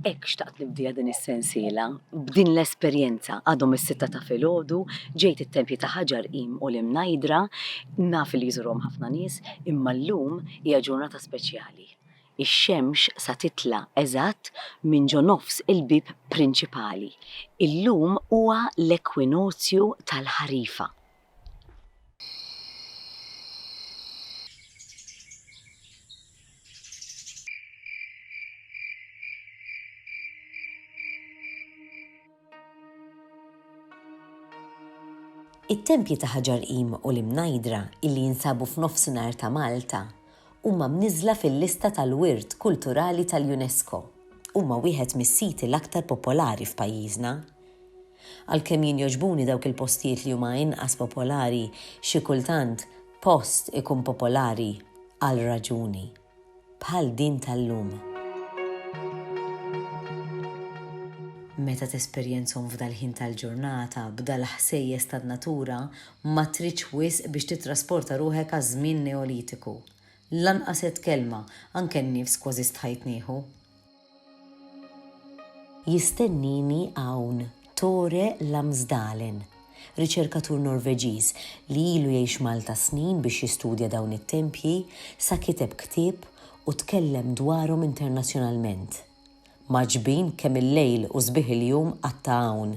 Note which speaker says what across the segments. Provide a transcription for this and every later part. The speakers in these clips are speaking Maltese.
Speaker 1: Hekk xtaqt nibdiha din is-sensiela, b'din l-esperjenza. Għadhom is-sitta ta' filgħodu, ġejt it-Tempji ta' Ħaġar Qim u l-Imnajdra, naf li jżurhom ħafna nies, imma llum hija ġurnata speċjali. Ix-xemx sa titla' eżatt minn ġo nofs il-bieb prinċipali. Illum huwa l-ekwinozju tal-ħarifa.
Speaker 2: It-tempji ta' Ħaġar Qim u l-Imnajdra illi jinsabu f'Nofsinhar ta' Malta huma mniżżla fil-lista tal-Wirt Kulturali tal-UNESCO. Huma wieħed mis-siti l-aktar popolari f'pajjiżna. Għalkemm jien jogħġbuni dawk il-postijiet li huma inqas popolari, xi kultant post ikun popolari għal raġuni. Bħal din tal-lum. Meta tesperjenzhom f'dal-ħin tal-ġurnata, b'dal-ħsejjes tan-natura, ma tridx wisq biex tittrasporta ruħek għaż-żmien Neolitiku. Lanqas għedt kelma, anke n-nifs kważi stħajt nieħu. Jistennini hawn Tore Lamsdalen, riċerkatur Norveġiż li ilu jgħix Malta snin biex jistudja dawn it-tempji sa kiteb ktieb u tkellem dwarhom internazzjonalment. Mgħaġġbin kemm il-lejl u sbieħ il-jum qatta' hawn.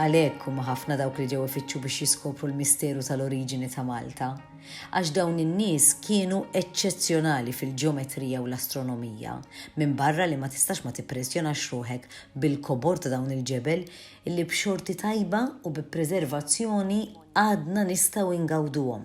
Speaker 2: Għalhekk huma ħafna dawk li ġew ifittxu biex jiskopru l-misteru tal-oriġini ta' Malta, għax dawn in-nies kienu eċċezzjonali fil-ġeometrija u l-astronomija, minbarra li ma tistax ma tippressjonax ruħek bil-kobor ta' dawn il-ġebel illi b'xorti tajba u bi preservazzjoni għadna nistgħu ingawduhom.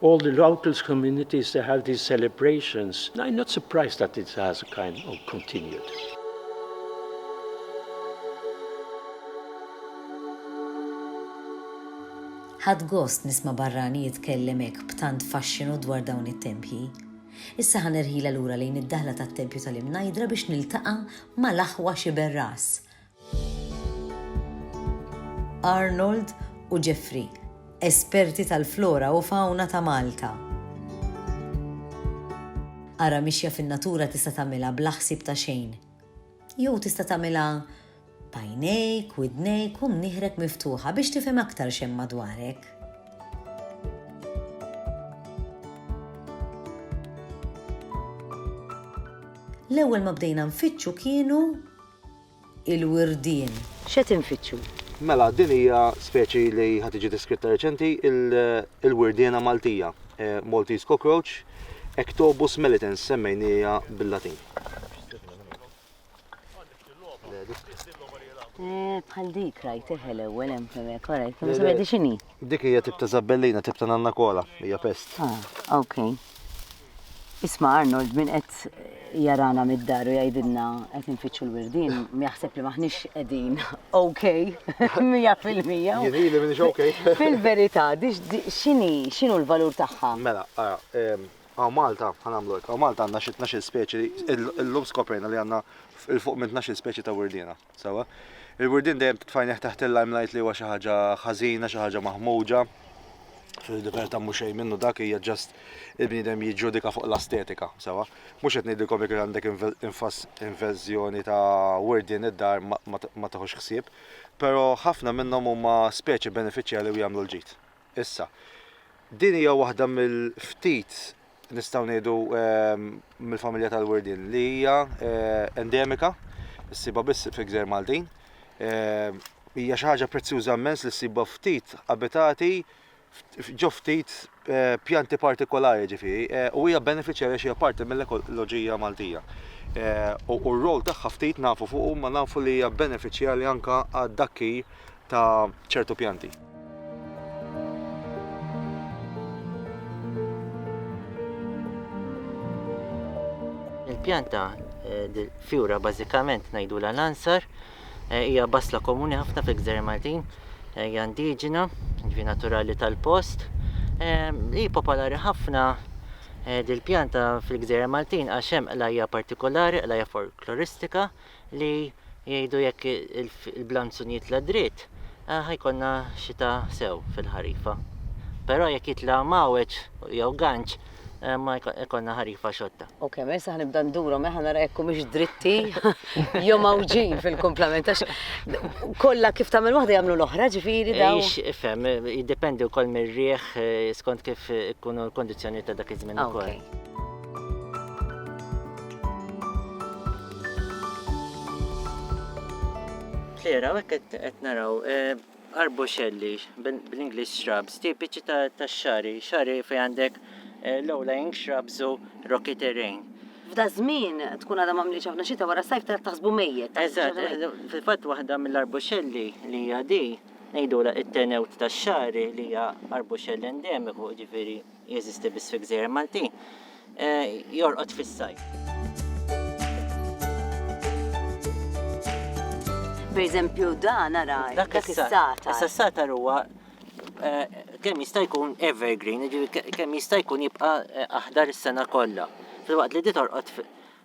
Speaker 3: All the locals communities they have these celebrations. I am not surprised that it has a kind of continued.
Speaker 2: Ħadd gost nisma' barrani jitkellem hekk b'tant faxxinu dwar dawn it-tempji. Issa ħa nerħila lura lejn id-daħla tat-tempju tal-Imnajdra biex niltaqa' mal-aħwa Xiberras. Arnold u Jeffrey, esperti tal-flora u fawna ta' Malta. Ara mixja fin-natura tista' tagħmilha bla ħsieb ta' xejn. Jew tista' tagħmilha b'għajnejk, widnejk u mnieħrek miftuħa biex tifhem aktar x'hemm madwarek. L-ewwel ma bdejna nfittxu kienu il-wirdien. X'qed infittxu?
Speaker 1: Mela, din hija
Speaker 4: speċi li ħa tiġi deskritta reċenti, il-wirdiena Maltija, Maltese cockroach, Ectobus melitens, semmejniha bil-Latin.
Speaker 1: Bħal dik rajtih l-ewwel hemm hemmhekk, ora jkun se ngħidi x'inhi. Dik hija tip ta'
Speaker 4: żabbellina, tip ta' nanna kola, hija pest. Ah, okay.
Speaker 1: Isma' Arnold, min qed jarana mid-dar u jgħidilna qed infittxu l-wirdien, jaħseb li m'aħniex qegħdin OK mija fil-mija. Jien ili m'iniex
Speaker 4: OK. Fil-verità,
Speaker 1: x'inhi, x'inhu l-valur tagħha? Mela, ara,
Speaker 4: hawn Malta, ħa nagħmlu hekk, hawn Malta għandna xi tnax-il speċi, illum skoprejna li għandna 'l fuq minn tnax-il speċi ta' wirdiena. Sewwa. Il-wirdien dejjem titfajneħ taħt il-limelight li huwa xi ħaġa ħażina, xi ħaġa maħmuġa. Fil-libertà mhux xejn minnu dak hija ġast il-bniedem jiġġudika fuq l-astetika, sewwa. Mhux qed ngħidilkom jekk għandek invażjoni ta' wirdien id-dar ma tieħux ħsieb, però ħafna minnhom huma speċi benefiċjali u jagħmlu l-ġid. Issa, din hija waħda mill-ftit, nistgħu ngħidu, mill-familja tal-wirdien li hija endemika, issibha biss fil-Gżejjer Maltin. Hija xi ħaġa prezzjuża immens li ssibha ftit abitati ġo ftit eh, pjanti partikolari ġifieri eh, u hija benefiċjarja xi parti mill-ekoloġija Maltija. Eh, u r-rol tagħha ftit nafu fuq ma nafu li hija benefiċjarja anka għad-dakki ta' ċertu pjanti.
Speaker 5: Il-pjanta eh, fjura bażikament ngħidulha l-ansar eh, hija basla komuni ħafna fil-Gżer Maltin, eh, hija indiġena, ġvi naturali tal-post. Hi popolari ħafna dil-pjanta fil-Gżer Maltin għax hemm qlajja partikolari, qlajja folkloristika, li jgħidu jekk il-blanzun jitla' dritt ħa jkollna xita sew fil-ħarifa. Però jekk jitla' mgħawweġ jew ganċ ma jkollna ħarifa xotta. Ok, mela issa ħa nibda
Speaker 1: ndurhom eh ħa nara jekk humiex dritti jew mgħawġin fil-kumplament għax kollha kif tagħmel waħda jagħmlu l-oħra ġifieri dawn. Ix, ifhem,
Speaker 5: jiddependi wkoll mir-riħ skont kif ikunu l-kundizzjonijiet ta' dak iż-żmien ukoll. Ok. Flera, hawnhekk qed qed naraw eh, arboxelli bil- bl-English shrubs, tipiċi ta' tax-xari, xari fejn għandek eh, low-lying shrubs u rocky terrain. F'da żmien
Speaker 1: tkun għadha m'għamlitx ħafna xita wara s-sajf tara taħsbu mejjet. Eżatt, eh,
Speaker 5: fil-fatt waħda mill-arboxelli li hija di ngħidulha it-tenewt tax-xari li hija arboxell endemiku, ġifieri Jeżisti biss fi gżejjer Maltin. Jorqod fis-sajf.
Speaker 1: Per eżempju, dan ara, dak is-satar. Issa s-satar huwa eh,
Speaker 5: kemm jista' jkun evergreen, kemm jista' jkun jibqa' eh, aħdar is-sena kollha. Filwaqt li di torqod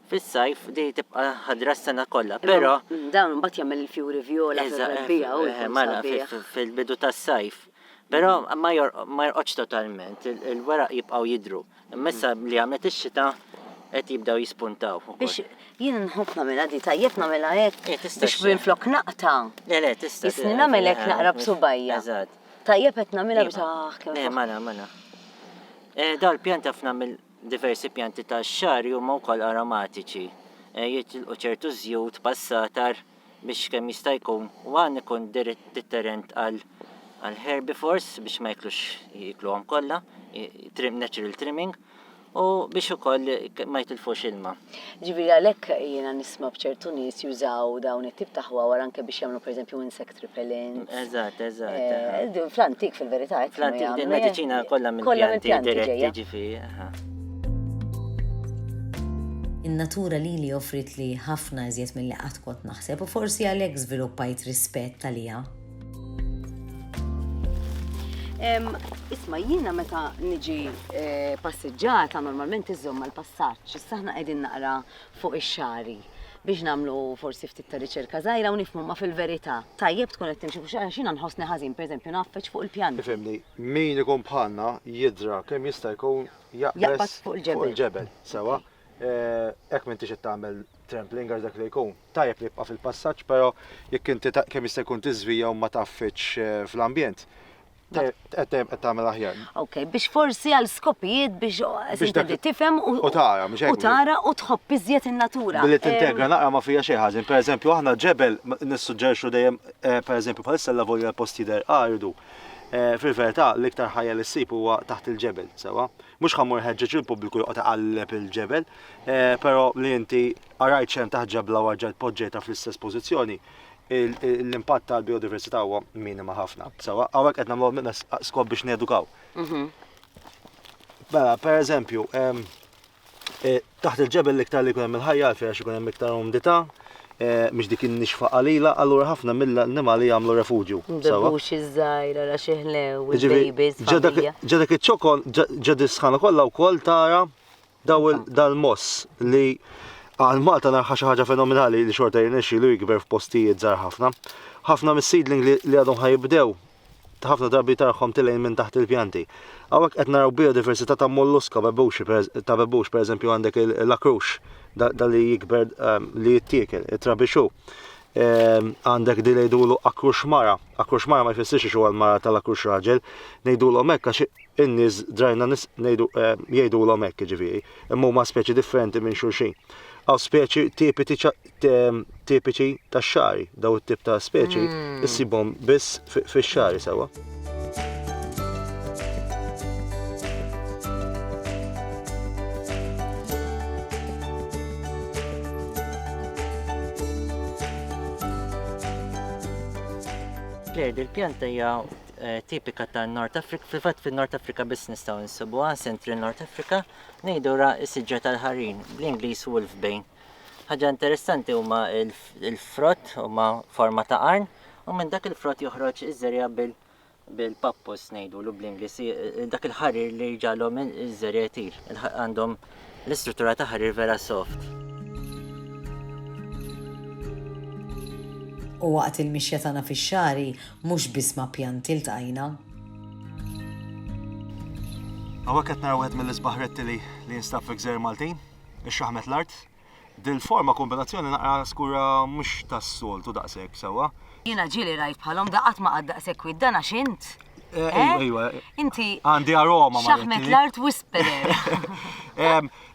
Speaker 5: fis-sajf di tibqa' ħadra s-sena kollha, però dawn imbagħad jagħmel
Speaker 1: il-fjuri vjola fil-rebbiegħa u eh, mela fil-bidu
Speaker 5: tas-sajf. Però ma jorqodx totalment, il-weraq jibqgħu jidhru. Imma issa li għamlet ix-xita qed jibdew jispuntaw ukoll. Biex jien
Speaker 1: nħobb nagħmilha di tajjeb nagħmilha hekk eh, biex minflok naqta'. Le le tista'. Jisni
Speaker 5: nagħmel hekk naqra
Speaker 1: b'subajja. Eżatt. Tajjeb
Speaker 5: qed nagħmilha
Speaker 1: biex ah kemm. Eh, mana, mana.
Speaker 5: Eh, dawn pjanta f'na mill diversi pjanti ta' xar huma wkoll aromatiċi. Eh, jitilqu ċertu żjut, passatar, biex kemm jista' jkun u għan ikun deterrent għal herbivores biex ma jiklux jikluhom kollha, natural trimming, u biex ukoll ma jitilfux ilma. Ġifieri għalhekk
Speaker 1: jiena nisma' b'ċertu nies jużaw dawn it-tip ta' ħwawar anke biex jagħmlu pereżempju insect repellent. Eżatt, eżatt.
Speaker 5: Eh,
Speaker 1: fl-antik fil-verità. Fl-antik din mediċina
Speaker 5: kollha mill-pjanti diretti ġifieri.
Speaker 2: In-natura lili offrietli ħafna iżjed milli qatt kont naħseb u forsi għalhekk żviluppajt rispett għaliha.
Speaker 1: Isma, jiena meta niġi eh, passiġġata normalment iżomm mal passaġġ issa aħna qegħdin naqra fuq ix-xari biex namlu forsi ftit ta' riċerka żgħira u nifhmu ma fil-verità. Tajjeb tkun qed timxi fuq xara xina nħossni ħażin, pereżempju naffaċ fuq il-pjan. Ifhimni, Min
Speaker 4: ikun bħalna jidra kemm jista' jkun jaqbeż fuq il-ġebel, sewa? Hekk m'intix qed tagħmel trampling għax dak li jkun. Tajjeb li jibqa' fil-passaġġ, però jekk inti kemm jista' jkun tiżvija u ma tgħaffidx fl-ambjent, qed tagħmel aħjar. Ok, biex forsi
Speaker 1: għal skopijiet biex tibda tifhem u u tara, mhux hekk? U
Speaker 4: tara u tħobb iżjed
Speaker 1: in-natura. Billi tintegra naqra
Speaker 4: ma fiha xejn ħażin. Pereżempju aħna ġebel nissuġġerixxu dejjem, pereżempju bħalissa allavolja l-post jidher aridu, Fil-verità, l-iktar ħajja li ssib huwa taħt il-ġebel, sewwa? Mhux ħa mmur nħeġġeġ lill-pubbliku joqgħod iqalleb il-ġebel, però li inti qrajt x'hemm taħt ġebla u erġajt poġġejtha fl-istess pożizzjoni, l-impatt tal-bijodiversità huwa minima ħafna, sewwa? Hawnhekk qed nagħmlu skop biex nedukaw. Mela, pereżempju, Eh, taħt il-ġebel l-iktar li kunem il-ħajja għalfejn għax ikun hemm iktar umdità, eh, mhix dik in-nixfa qalila, allura ħafna mill-annimali jagħmlu refugju. Mbebbux iż-żgħira
Speaker 1: ra xi ħlew, il-babies. Ġa dak iċ-ċokon,
Speaker 4: ġa disħana kollha wkoll tara daw dal-moss li għal Malta narħa xi ħaġa fenomenali li xorta jirnexxilu jikber f'postijiet żgħar ħafna. Ħafna mis-seedling li għadhom ħajibdew ħafna drabi tarħhom tilgħin minn taħt il-pjanti. Hawnhekk qed naraw biodiversità ta' molluska bebuxi ta' bebux, pereżempju għandek l-akrux da li jikber ehm, li jittiekel, it-trabixu. Ehm, għandek di ngħidulu akrux mara. Akrux mara ma jfissirx xogħol mara tal-akrux raġel, ngħidulhom hekk għax in-nies drajna nis ehm, jgħidulhom hekk ġifieri, imma huma speċi differenti minn xulxin. Għaw speċi tipi tipiċi tax-xagħri, daw it-tip ta' speċi, mm. issibhom biss fix-xagħri sewwa.
Speaker 5: Lejn il-pjanta hija eh, tipika ta' North Africa, fil-fatt fil-North Africa biss nistgħu nsibuha, Central North Africa, ngħidu ra s-siġġa tal-ħarin, bl-Ingliż Wolfbane. Ħaġa interessanti huma l-frott huma forma ta' qarn u minn dak il-frott joħroġ iż-żerja bil-pappus ngħidulu bl-Ingliż dak il-ħarir li jġalhom iż-żerja jtir. Għandhom l-istruttura ta' ħarir vera soft.
Speaker 2: U waqt il-mixja tagħna fix-xagħri mhux biss ma' pjanti ltqajna.
Speaker 4: Hawnhekk qed nara wieħed mill-isbaħ rettili li jinstab fi gżejjer Maltin. Ixxaħmet l-art. Dil-forma kombinazzjoni naqra skura mhux tas-soltu daqshekk sewwa. Jiena ġieli rajt
Speaker 1: bħalhom da qatt ma qatt daqshekk kwiet dan għax int. Eh, eh? Ejwa.
Speaker 4: Inti. Għandi
Speaker 1: aroma ma.
Speaker 4: Xaħmet l-art
Speaker 1: whisperer.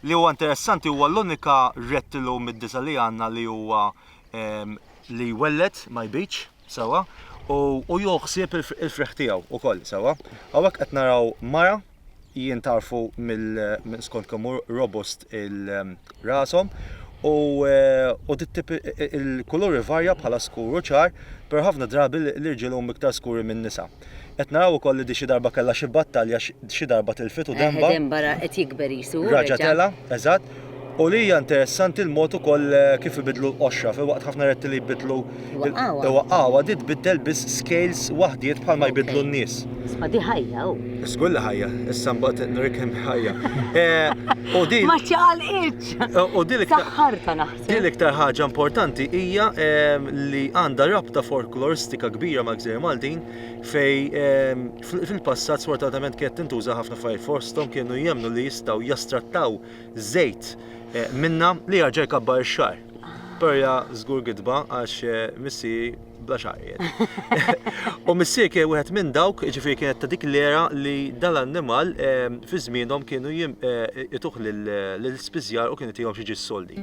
Speaker 4: Li huwa interessanti huwa l-unika rettilu mid-disa li għandna li huwa li jwellet ma jbidx. Sewwa, u hu jieħu ħsieb il-frieħ tiegħu wkoll, sewwa. Hawnhekk qed naraw mara, jien tarfu minn skont kemm hu robust il-rashom, u il-kulur ivarja bħala skur u ċar, però ħafna drabi l-irġiel huma iktar skuri min-nisa. Qed naraw ukoll li di xi darba kellha xi battalja xi darba tilfet u denba. Denba ra qed jikber
Speaker 1: qisu. Raġa' tela', eżatt.
Speaker 4: U li hija interessanti l-mod ukoll kif ibidlu l-qoxra filwaqt ħafna retti li jbidlu. Iwaqqgħuha. Iwaqqgħuha di tbiddel biss scales waħdiet bħalma jbiddlu n-nies. Isma' di ħajja
Speaker 1: u. Żgur li ħajja.
Speaker 4: Issa mbagħad nuriek kemm hi ħajja. U di. Ma ċċaqalqitx!
Speaker 1: U di l-iktar.
Speaker 4: Saħħartha naħseb. Hi
Speaker 1: l-iktar ħaġa importanti
Speaker 4: hija li għandha rabta folkloristika kbira mal-Gżejjer Maltin fej fil-passat sfortunatament kienet tintuża ħafna affarijiet fosthom kienu jemmnu li jistgħu jastrattaw żejt minna li jarġa' jkabbar ix-xagħar. Però hija żgur gidba għax missieri bla xaqqiet. U missier kien wieħed minn dawk, ġifieri kienet ta' dik l-era li dal-annimal ehm, fi żmienhom kienu eh, ituh lill-spiżjar u kien itihom xi ġis soldi.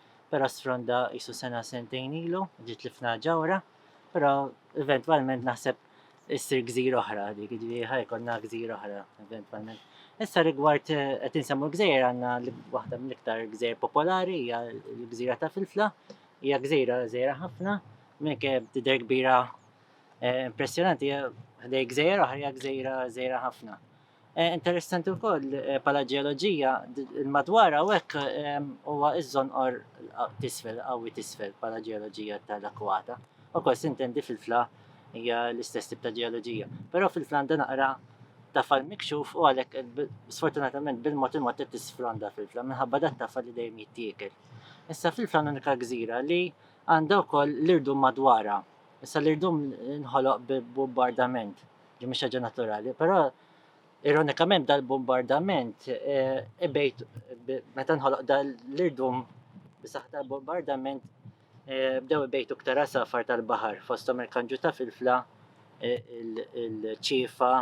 Speaker 5: però sfronda qisu sena sentejn ilu, ġi tlifna ġawra, però eventwalment naħseb issir gżira oħra dik, ġifieri ħa jkollna gżira oħra eventwalment. Issa rigward eh, qed insemmu l-gżejjer għandna waħda mill-iktar gżejjer popolari hija l-gżira ta' Filfla, hija gżira żejra ħafna, minn kif tidher kbira eh, impressjonanti ħdej gżejjer oħra hija gżira żejra ħafna. Eh, interessanti wkoll eh, bħala ġeoloġija madwar hawnhekk ehm, huwa iż-żonqor tisfel qawwi tisfel bħala ġeoloġija tal-akwata. Ukoll sintendi fil-fla hija l-istess tip ta' ġeoloġija. Però fil-fla għandha naqra ta' fal mikxuf u għalhekk eh, sfortunatament bil-mod il-mod qed tisfronda fil-fla minħabba dat tafal li dejjem jittiekel. Issa fil-fla unika gżira li għandha wkoll l-irdum madwara. Issa l-irdum nħoloq b'bombardament. Din mhix ħaġa naturali, però ironikament dal-bombardament eh, ibejt meta nħoloq dal-irdum bisaħ tal-bombardament eh, bdew ibejtu ktar safar tal-baħar fosthom il-kanġu ta' filfla eh, il-ċifa,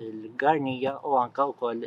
Speaker 5: il-garnija u anka wkoll